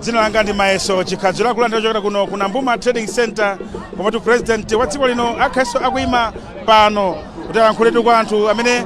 dzina langa ndi mayeso chikhadziro akulandirani kuchokera kuno ku nambuma trading center komwetu president wa dziko lino akhalanso akuyima pano kuti alankhuletu kwa anthu amene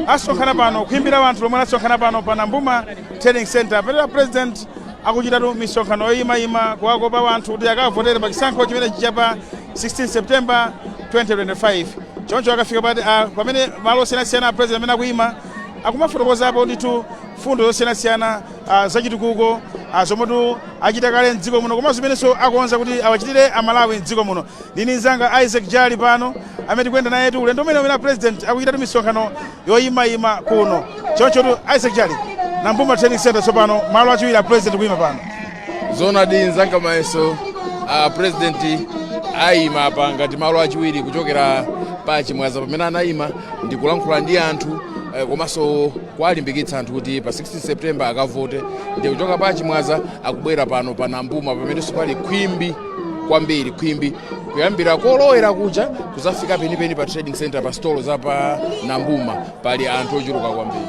asonkhana pano khwimbi la anthu lomwe lasonkhana pano pa nambuma trading center pamene president akuchitatu misonkhano yoyimayima kuwakopa wanthu kuti akavotere pa chisankho chimene chichitike pa 16 september 2025 choncho akafika pati ah, pamene malo osiyanasiyana a president amene akuyima akumafotokozapo ndithu mfundo zosiyanasiyana ah, zachitukuko ah, zomwetu achita kale mdziko muno komanso zimenenso akonza kuti awachitire amalawi mdziko muno ndi nzanga isaac jali pano amene tikuyenda nayetu ulendo umene umene president akuchitatu misonkhano yoyimayima kuno chonchotu isaac jali nambuma trading center tsopano malo achiwiri a president kuyima pano zoonadi nzanga mayeso a president ayima apa ngati malo achiwiri kuchokera pa chimwaza pamene anayima ndi kulankhula ndi anthu eh, komanso kuwalimbikitsa anthu kuti pa 16 september akavote ndi kuchoka pa chimwaza akubwera pano pa nambuma pamenenso pali khwimbi kwambiri khwimbi kuyambira kolowera kuja kuzafika penipeni pa trading center pa stolo za pa nambuma pali anthu ochuluka kwambiri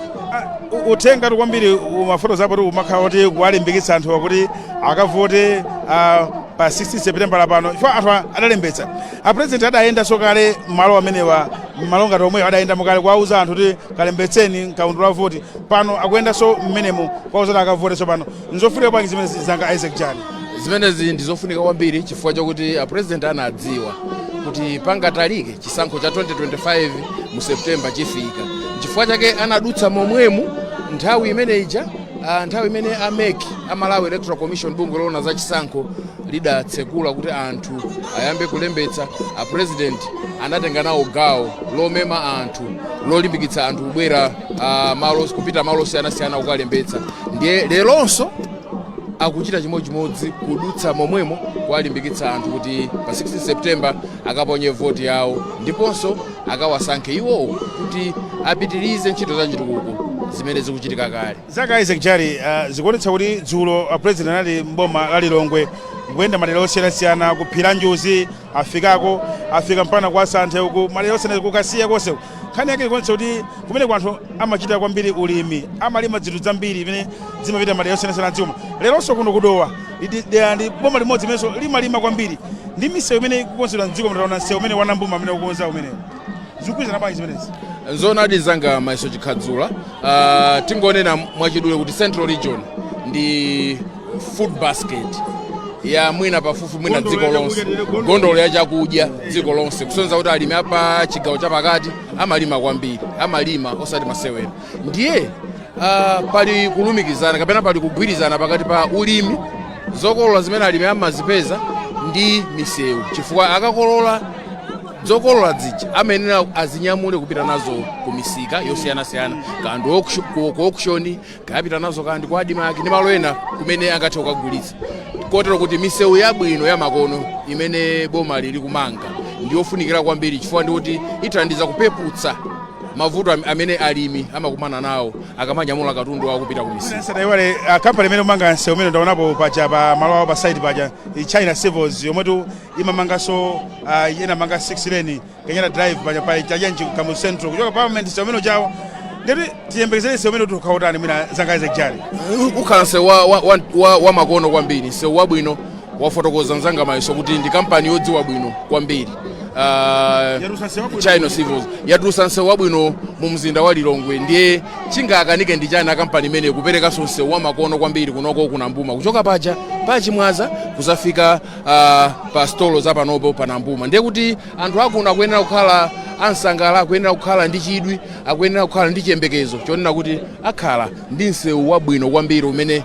U- uthengatu kwambiri amafotokozapotu kumakhala kuti kuwalimbikitsa anthu kuti akavote ah, pa 16 september lapano chifukwa anthu a- adalembetsa A president adayendanso kale malo amenewa malo ngati omwewo adayendamo kale kuwauza anthu kuti kalembetseni mkaundula wa voti pano akuyendanso mmenemo kuwauza kuti akavote tsopano nzofunika bwanji zimenezi nzanga Isaac Jali zimenezi ndi zofunika kwambiri chifukwa chakuti a president anadziwa kuti pangatalike chisankho cha 2025 mu september chifika chifukwa chake anadutsa momwemu nthawi imene ija ah, nthawi imene a mec a malawi electoral commission bungwe loona za chisankho lidatsekula kuti anthu ayambe kulembetsa apurezidenti anatenga nawo gawo lomema anthu lolimbikitsa anthu kubwera ah, malo kupita malo osiyanasiyana kukalembetsa ndiye leronso akuchita chimodzimodzi kudutsa momwemo kuwalimbikitsa anthu kuti pa 16 september akaponye voti yawo ndiponso akawasankhe iwowo kuti apitirize ntchito za chitukuko zimene zikuchitika kale Nzanga Isaac Jali, zikuonetsa kuti dzulo a president anali m'boma la Lilongwe kuyenda madera osiyanasiyana ku phiri la Njuzi afikako afika mpaka kwa Santhe uku madera onse ku Kasiya konse uku. nkhani yake ikuonetsa kuti kumene kwa anthu amachita kwambiri ulimi amalima dzinthu dzambiri imene zimapita madera osiyanasiyana dziko leronso kuno ku Dowa ndi dera ndi boma limodzi limenenso limalima kwambiri ndi misewu imene ikukonzedwa mdziko taona msewu umene wa Nambuma umene akukonza umenewu zikugwirizana bwanji zimenezi nzoonadi nzanga mayeso chikhadzula uh, tingonena mwachidule kuti central region ndi food basket ya mwina pafupi mwina dziko lonse nkhokwe ya chakudya dziko lonse kusonyeza kuti alimi apa chigawo chapakati amalima kwambiri amalima osati masewera ndiye uh, pali kulumikizana kapena pali kugwirizana pakati pa ulimi zokolola zimene alimi amazipeza ndi misewu chifukwa akakolola zokolola zija amayenera azinyamule kupita nazo ku misika yosiyanasiyana kaya ndi auction- ku ku auction kaya apita nazo kaya ndi ku admarc ndi malo ena kumene angathe kukagulitsa kotero kuti misewu yabwino yamakono imene boma lili kumanga ndi yofunikira kwambiri chifukwa ndi kuti ithandiza kupeputsa mavuto am- amene alimi amakumana nawo akamanyamula katundu wawo kupita ku misika tisaiwale kampani imene ikumanga msewu umene ndaonapo paja pa malo awo pa site paja i china civils yomwetu imamanganso uh, inamanga 6 lane kenyatta drive paja pa cha uje kamuzu central kuchoka parliament nsewu umene uja uwo ndiye kuti tiyembekezere nsewu umenewu ukhala wotani mwina nzanga isaac jali ukhala nsewu wa, wa, wa, wa, wa makono kwambiri nsewu wabwino wafotokoza mzanga mayeso kuti ndi kampani yodziwa bwino kwambiri uh, Yatulusa nsewu wabwino. china civils yatulusa nsewu wabwino mu mzinda wa lilongwe ndiye chingakanike ndi chani kampani imeneyi kuperekanso nsewu wa makono kwambiri kunoko ku nambuma kuchoka paja pachimwaza kuzafika uh, pa stolo za panopo pa nambuma ndiye kuti anthu akuno akuyenera kukhala ansangala akuyenera kukhala ndi chidwi akuyenera kukhala ndi chiyembekezo chonena kuti akhala ndi msewu wabwino kwambiri umene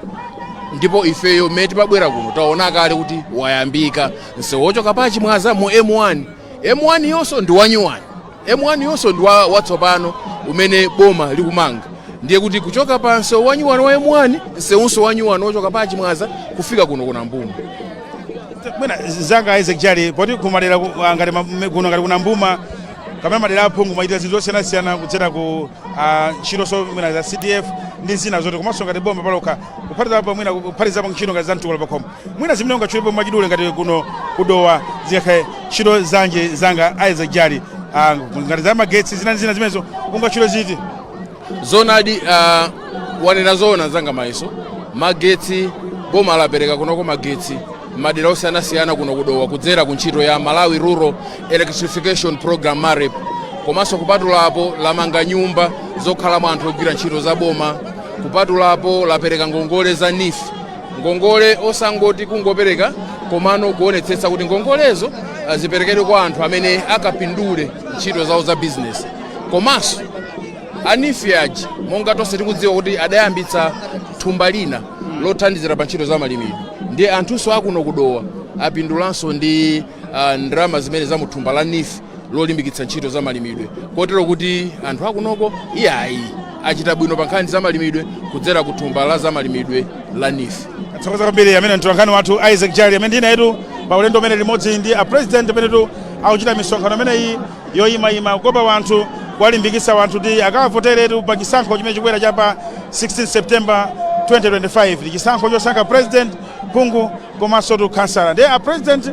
ndipo ifeyo mmene timabwera kuno taona kale kuti wayambika msewu wochoka pa chimwaza mu m1 m1 yonso ndi wanyuwani M1 yonso ndi watsopano umene boma likumanga ndiye kuti kuchoka pa msewu wanyuwani wa M1 msewunso wanyuwani wochoka pa Chimwaza kufika kuno ku Nambuma. mwina nzanga Isaac Jali poti kumadera ku- ah, ngati ma- me- kuno ngati ku Nambuma kapena madera aphungu amachita zinthu zosiyanasiyana kudzera ku ah, ntchito so mwina za CDF ndi zina zotero komanso ngati boma palokha kuphatizapo mwina kuphatizapo ntchito ngati za mtukula pakhomo Mwina zimene ungatchulepo mwachidule ngati kuno ku Dowa zingakhale ntchito zanji nzanga Isaac Jali ah, ngati za magetsi zina ndi zina zimenezo ungatchule ziti zoonadi ah, wanena zoona nzanga mayeso magetsi boma lapereka kunoko magetsi madera osiyanasiyana kuno ku Dowa kudzera ku ntchito ya malawi rural electrification program marep komanso kupatulapo lamanga nyumba zokhalamo anthu ogwira ntchito za boma kupatulapo lapereka ngongole za neef ngongole osangoti kungopereka komano kuonetsetsa kuti ngongolezo ah, ziperekedwe kwa anthu amene akapindule ntchito zawo za bizinesi komanso a neef aja monga tonse tikudziwa kuti adayambitsa thumba lina lothandizira pa ntchito za malimidwe ndiye anthunso akuno ku dowa apindulanso ndi ah, ndalama zimenezi za mu thumba la neef lolimbikitsa ntchito za malimidwe kotero kuti anthu akunoko iyayi achita bwino pa nkhani za malimidwe kudzera ku thumba la za malimidwe la NEEF. athokoza kwambiri amene mtolankhani wathu isaac jali amene ndili nayetu pa ulendo umene limodzi ndi a president amenetu akuchita misonkhano imeneyi yoyimayima kukopa wanthu kuwalimbikitsa wanthu kuti akawavoteretu pa chisankho chimene chikubwera cha pa 16 september 2025 ndi chisankho chosankha president phungu komansotu khansala ndiye a president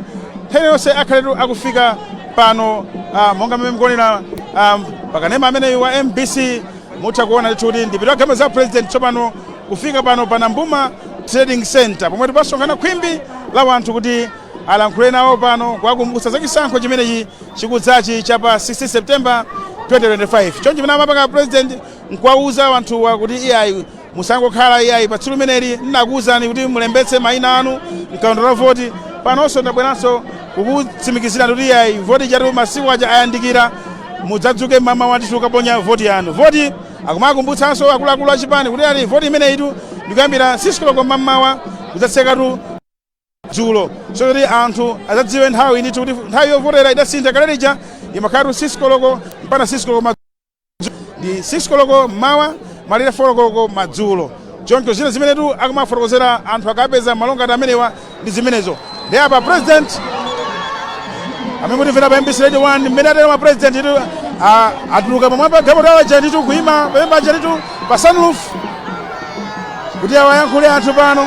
nthawi yonse akhaletu akufika pano ah, monga mmene mukuonera ah, pakanema ameneyu wa mbc mutha kuona ndithu kuti mdipiti wa galimoto za a president tsopano kufika pano pa nambuma trading center pomwetu pasonkhana khwimbi la wanthu kuti alankhule nawo pano kuwakumbutsa za chisankho chimenechi chikudzachi cha pa 16 september 2025 choncho chimene amapanga a president nkuwauza wanthuwa kuti iyayi Musangokhala iyayi, pa tsiku limeneli ndinakuuzani kuti mulembetse mayina anu m'kaundula wa voti. Panonso ndabweranso kukutsimikizirani kuti iyayi, voti ijatu masiku aja ayandikira, mudzadzuke m'mamawa ndithu kukaponya voti yanu. Voti, akumakumbutsanso akuluakulu a chipani kuti iyayi, voti imeneyitu ndi kuyambira 6 koloko m'mamawa kudzatsekatu dzulo, so kuti anthu adzadziwe nthawi ndithu kuti nthawi yovotera idasintha. Kale lija imakhalatu 6 koloko mpaka 6 koloko madzulo. ndi 6 koloko mmawa malire 4 koloko madzulo choncho zina zimenetu akumafotokozera anthu akapeza malo ngati amenewa ndi zimenezo ndiye apa president amene mukutimvera pa mbc radio 1 mmene ateromu a president tu ah, atuluka pamwamba pa galimoto yawo ija ndithu kuima pamwamba paja ndithu pa sunroof kuti awayankhule anthu pano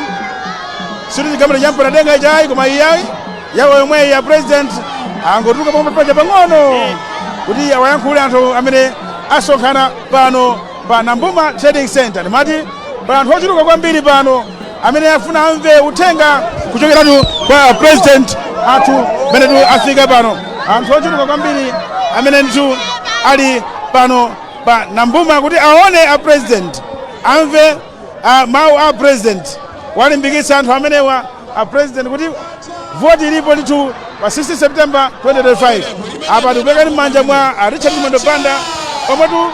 sikuti chigalimoto chopanda denga ichi ayi koma iyayi yawo yomweyi a president angotuluka pamwamba paja pang'ono kuti awayankhule anthu amene asonkhana pano pa nambuma trading center ndimati pa anthu ochuluka kwambiri pano amene afuna amve uthenga kuchokeratu kwa a president athu pamenetu afika pano anthu ochuluka kwambiri amene ndithu ali pano pa nambuma kuti aone a president amve Ah, mawu a president awalimbikitsa anthu amenewa a president kuti voti ilipo ndithu pa 16 september 2025 apa tikuperekani m'manja mwa a richard chimwendo banda omwetu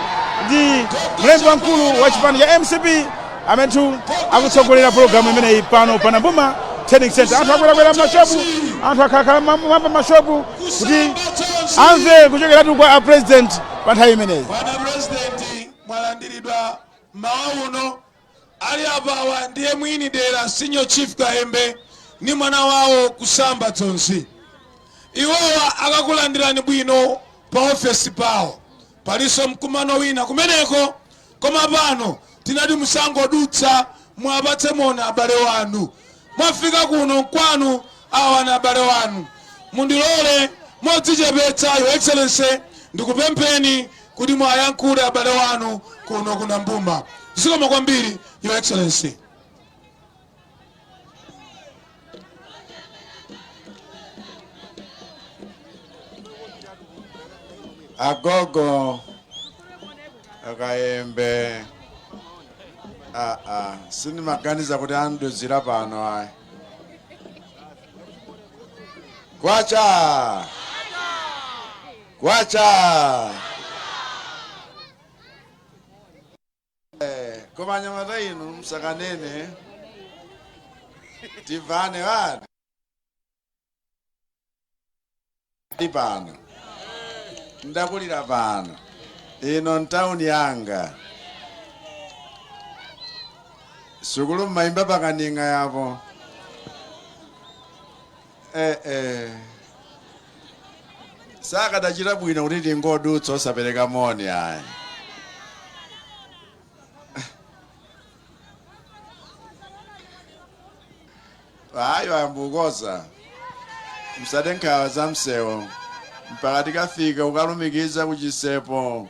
ndi mlembi wamkulu wa chipani cha mcp amenetu akutsogolera pologalamu imeneyi pano pa nambuma trading center anthu akwerakwera mashopu anthu akhalakhala m'mwamba mashopu kuti amve kuchokeratu kwa a president pa nthawi imeneyi bwana president mwalandiridwa M'mawa uno, ali apawa ndiye mwini dera Senior Chief Kayembe ndi mwana wawo Kusamba Dzonzi. Iwowa akakulandirani bwino pa ofesi pawo. Palinso mkumano wina kumeneko koma pano tinati musangodutsa muwapatse moni abale wanu. Mwafika kuno nkwanu awa ndi abale wanu. Mundilole modzichepetsa Your Excellency ndikupempheni kuti muwayankhule abale wanu kuno ku Nambuma. Zikomo kwambiri, Your Excellency. agogo a Kayembe ah, ah. sinimaganiza kuti andiuzira pano ayi kwacha kwacha eh, koma anyamata inu msakanene tivane vani ndi pano ndakulira pano ino ntawuni yanga sukulu mmaimba pakaning'a yapo eh, eh. sikadachita bwino kuti tingodutsa osapereka moni ayi ayi ayamba ukonza msade nkhawa za msewo mpaka tikafika kukalumikiza ku Chisepo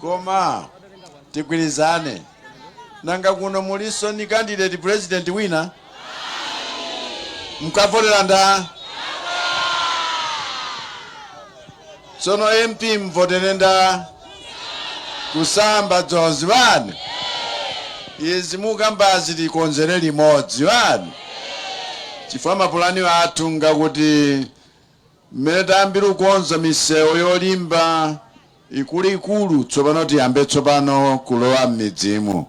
Koma tigwirizane nanga kuno mulinso ni candidate president wina? Mkavotera ndani? Tsono MP mvotera ndani? Kusamba Dzonzi basi. Izi mukambazi tikonzere limodzi basi. Chifukwa mapulani athu ngakuti Mmene tayambira kukonza misewu yolimba ikuluikulu tsopano tiyambe tsopano kulowa mmidzimu.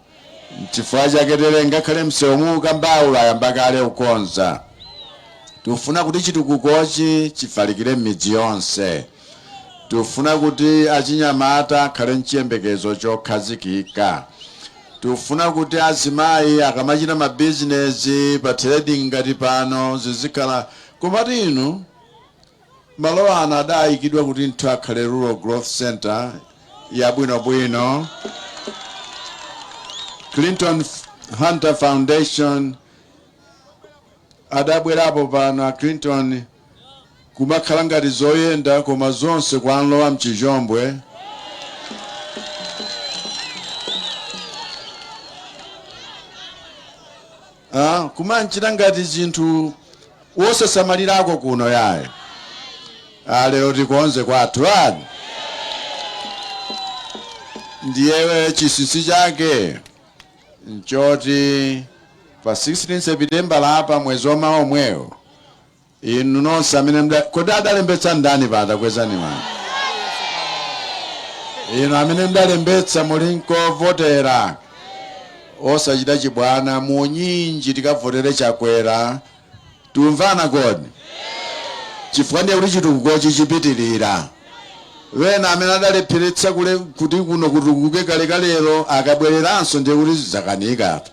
Nchifukwa chake dere ngakhale msewu mukukambawu ayamba kale kukonza. Tufuna kuti chitukukochi chifalikire mmidzi yonse. Tufuna kuti achinyamata akhale nchiyembekezo chokhazikika. Tufuna kuti azimayi akamachita mabizinesi pa trading ngati pano zizikhala Komatu inu, malo ano adayikidwa kuti ndthu akhale Rural Growth Centre yabwinobwino, Clinton Hunter Foundation, adabwerapo pano a Clinton kumakhala ngati zoyenda koma zonse kwamlowa mchizhombwe. Ah, kumanchita ngati zinthu wosasamalirako kuno yayi. Ah, lero tikonze kwathu ani. Ndiye chisinsi chake nchoti pa 16 September lapa mwezi wamawa omwewo Inu nonse amene mda, kodi adalembetsa ndani pata kwezani manja. Inu amene mudalembetsa muli nkovotera osachita chibwana munyinji tikavotere Chakwera tiumvana kodi chifukwa ndiye kuti chitukukochi chipitilira. Ena amene adalepheretsa kule kuti kuno kutukuke kalekalelo akabwereranso ndiye kuti zakanika apa.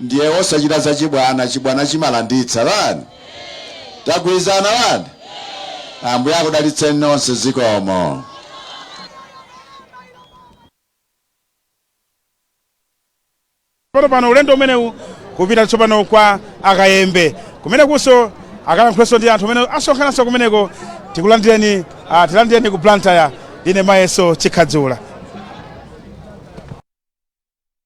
ndiye osachita zachibwana chibwana chimalanditsa lani tagwirizana lani ambuye akudalitseni nonse zikomo. Pano pano ulendo umenewu kupita tsopano kwa a Kayembe kumenekunso akalankhulenso ndi anthu amene asonkhananso kumeneko tikulandireni ah, tilandireni ku Blantyre ndine Mayeso Chikhadzula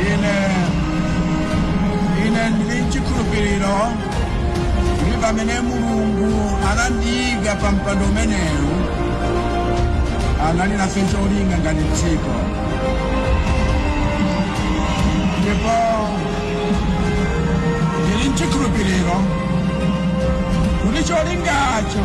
ine ine ndili mchikhulupiriro kuti pamene mulungu anandiika pa mpando umenewu anali nafe cholinga ngati dziko ndipo ndili mchikhulupiriro kuti cholingacho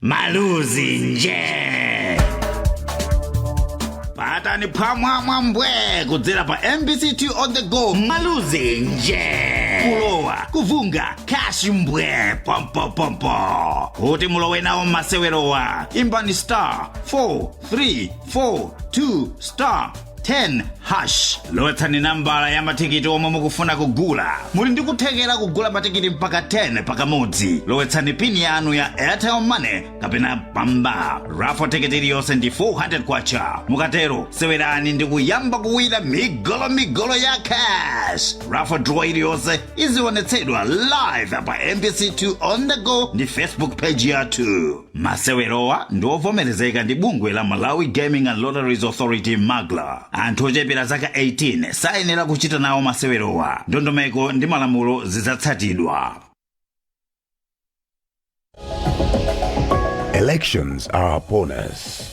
maluzi nje patani phwamwamwa mbwe kudzera pa mbc 2 on the go maluzi nje kulowa kuvunga kashi mbwe pompopompo kuti mulowe nawo mmasewerowa imbani star 4342 star 10 hash lowetsani nambala ya matikiti omwe mukufuna kugula muli ndi kuthekera kugula matikiti mpaka 10 pakamodzi lowetsani pini yanu ya airtel money kapena mpamba raffle tikiti iliyonse ndi 400 kwacha mukatero sewerani ndi kuyamba kuwina migolomigolo ya cash raffle draw iliyonse izionetsedwa live pa mbc2 on the go ndi facebook page yathu masewerowa ndi ovomerezeka ndi bungwe la malawi gaming and lotteries authority magla anthu ochepera zaka 18 sayenera kuchita nawo masewerowa ndondomeko ndi malamulo zidzatsatidwa Elections are upon us.